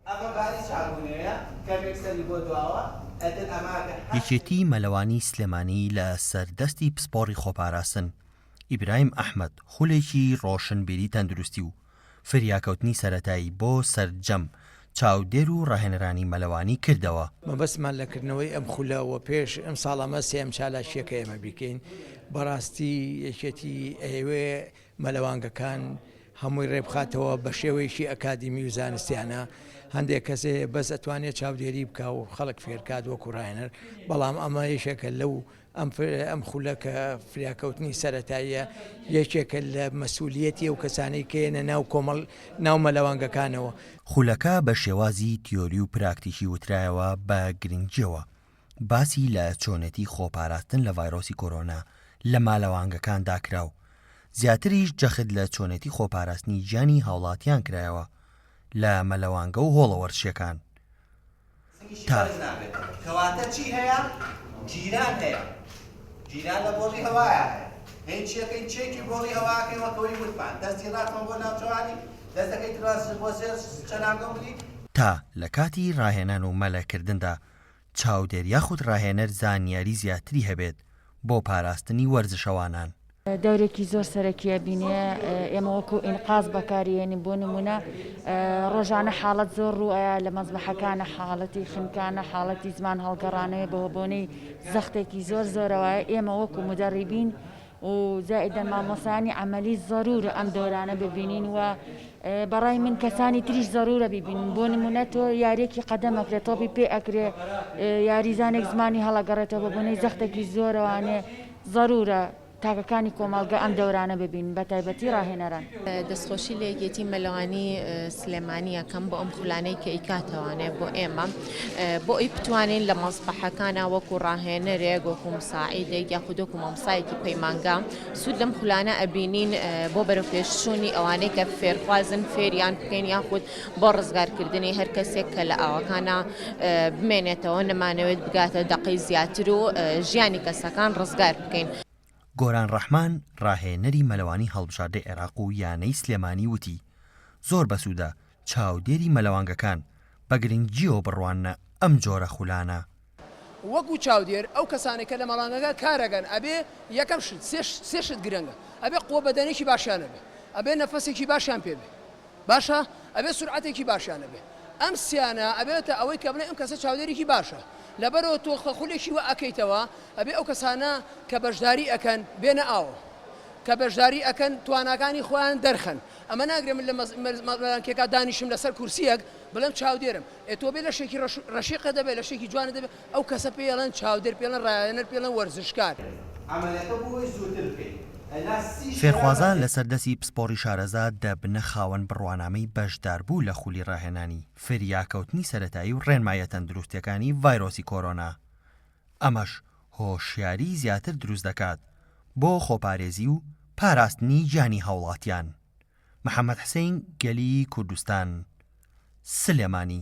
ئەمە باری چاکو نوێیە کەمێک سەری بۆ دواوە ئەتر ئەماکە هەر شت. یەکێتی مەلەوانی سلێمانی لە سەر دەستی پسپۆڕی خۆپاراستن ئیبراهیم ئەحمەد خولێکی ڕۆشنبیری تەندروستی و فریاکەوتنی سەرەتایی بۆ سەرجەم چاودێر و ڕاهێنەرانی مەلەوانی کردەوە. مەبەستمان لە کردنەوەی ئەم خولە وە پێش ئەمساڵ ئەمە سێیەم چالاکیە کە ئێمە بیکەین بەڕاستی یەکێتی ئەیەوێ مەلەوانگەکان هەمووی ڕێبخاتەوە بەشێوەیەکی ئەکادیمی و زانستیانە هەندێک کەسێ بەس ئەتوانێت چاودێری بکە و خەڵک فێرکات وەکو ڕاهێنەر بەڵام ئەمە یەکێکە لەو ئەم خولە کە فریاکەوتنی سەتاییە یەکێکە لە مەسوولەتی و کەسانی کێنە ناو کۆمەڵ ناو مەلەوانگەکانەوە خولەکە بە شێوازی تیۆری و پراکتیکی وترایەوە بە گرنگیەوە. باسی لە چۆنێتی خۆپاراستن لە ڤایرۆسی کۆرۆنا لە مالەوانگەکاندا کرا و زیاتریش جەخت لە چۆنێتی خۆپاراستنی گیانی هاوڵاتیان کرایەوە لە مەلەوانگە و هۆڵە وەرزشیەکان تا لە کاتی راهێنان و مەلەکردندا چاودێر یاخود ڕاهێنەر زانیاری زیاتری هەبێت بۆ پاراستنی وەرزشەوانان. دەورێکی زۆر سەرەکیە بینێ ئێمە وەکو ئینقاز بەکاریێنین بۆ نمونە ڕۆژانە حاڵەت زۆر ڕوئە لە مەزبەحەکانە حاڵەتی خنکانە حاڵەتی زمان هەڵگەڕانەیە بەوە بۆنەی زەختێکی زۆر زۆرەوەە ئێمە وەکو مدەڕیبین و زائیدەن مامۆستایانی عەمەلی زەرورە ئەم دەورانە ببینین و بەڕای من کەسانی تریش زەرورە ببینین بۆ نمونە تۆ یاریەکی قەدەم ئەکرێت تۆپی پێ ئەکرێ یاریزانێک زمانی هەڵەگەڕێتەوە بە بۆنەی زەختێکی زۆرەوانێ زەرورە تاکەکانی کۆمەڵگە ئەم دەورانە ببین بە تایبەتی ڕاهێنەران دەستخۆشی لە یەکێتی مەلەوانی سلێمانیەکەم بۆ ئەم خولانەی کە ئیکاتەوانێ بۆ ئێمە بۆ ئەوی بتوانین لە مەزبەحەکانا وەکو ڕاهێنەرێک وەکو مساعیدێک یاخود وەکو مامسایەکی پەیمانگا سود لەم خولانە ئەبینین بۆ بەرەو پێشچوونی ئەوانەی کە فێرخوازن فێریان بکەین یاخود بۆ ڕزگارکردنی هەر کەسێک کە لە ئاوەکانا بمێنێتەوە نەمانەوێت بگاتە دەقەی زیاتر و ژیانی کەسەکان ڕزگار بکەین. گۆران ڕەحمان ڕاهێنەری مەلەوانی هەڵبژاردەی عێراق و یانەی سلێمانی وتی، زۆر بەسودە چاودێری مەلەوانگەکان بە گرنگییەوە بڕواننە ئەم جۆرە خولانە. وەکو چاودێر ئەو کەسانەی کە لە مەڵانگەکە کارەکەن ئەبێ یەکەم شت سێ شت گرنگە ئەبێ قوە بەدەنێکی باشیان هەبێ ئەبێ نەفەسێکی باشیان پێ بێ باشە ئەبێ سورعەتێکی باشیان هەبێ ئەم سیانە ئەبێتە ئەوەی کە بڵێ ئەم کەسە چاودێرێکی باشە لەبەرەوە تۆ خە خولێکی وە ئەکەیتەوە ئەبێ ئەو کەسانە کە بەشداری ئەکەن بێنە ئاوە کە بەشداری ئەکەن تواناکانی خۆیان دەرخەن ئەمە ناگرێ من لە مەلانکێکا دانیشم لەسەر کورسیەک بڵێم چاودێرم ئێ تۆ بێ لەشێکی ڕەش ڕەشیقە دەبێ لەشێکی جوانە دەبێ ئەو کەسە پێی ئەڵێن چاودێر پێی ئەڵێن ڕایانەر پێی ئەڵێن وەرزشکار. عەمەلەکە بۆ وەی زووتر بکەین ئەنا سی شەرا بەجێ. فێرخوازان لەسەر دەستی پسپۆڕی شارەزا دەبنە خاوەن بڕوانامەی بەشداربوو لە خولی ڕاهێنانی فریاکەوتنی سەرەتایی و ڕێنماییە تەندروستییەکانی ڤایرۆسی کۆرۆنا ئەمەش هۆشیاری زیاتر دروست دەکات بۆ خۆپارێزی و پاراستنی گیانی هاوڵاتیان. محەمەد حسین گەلی کوردستان سلێمانی.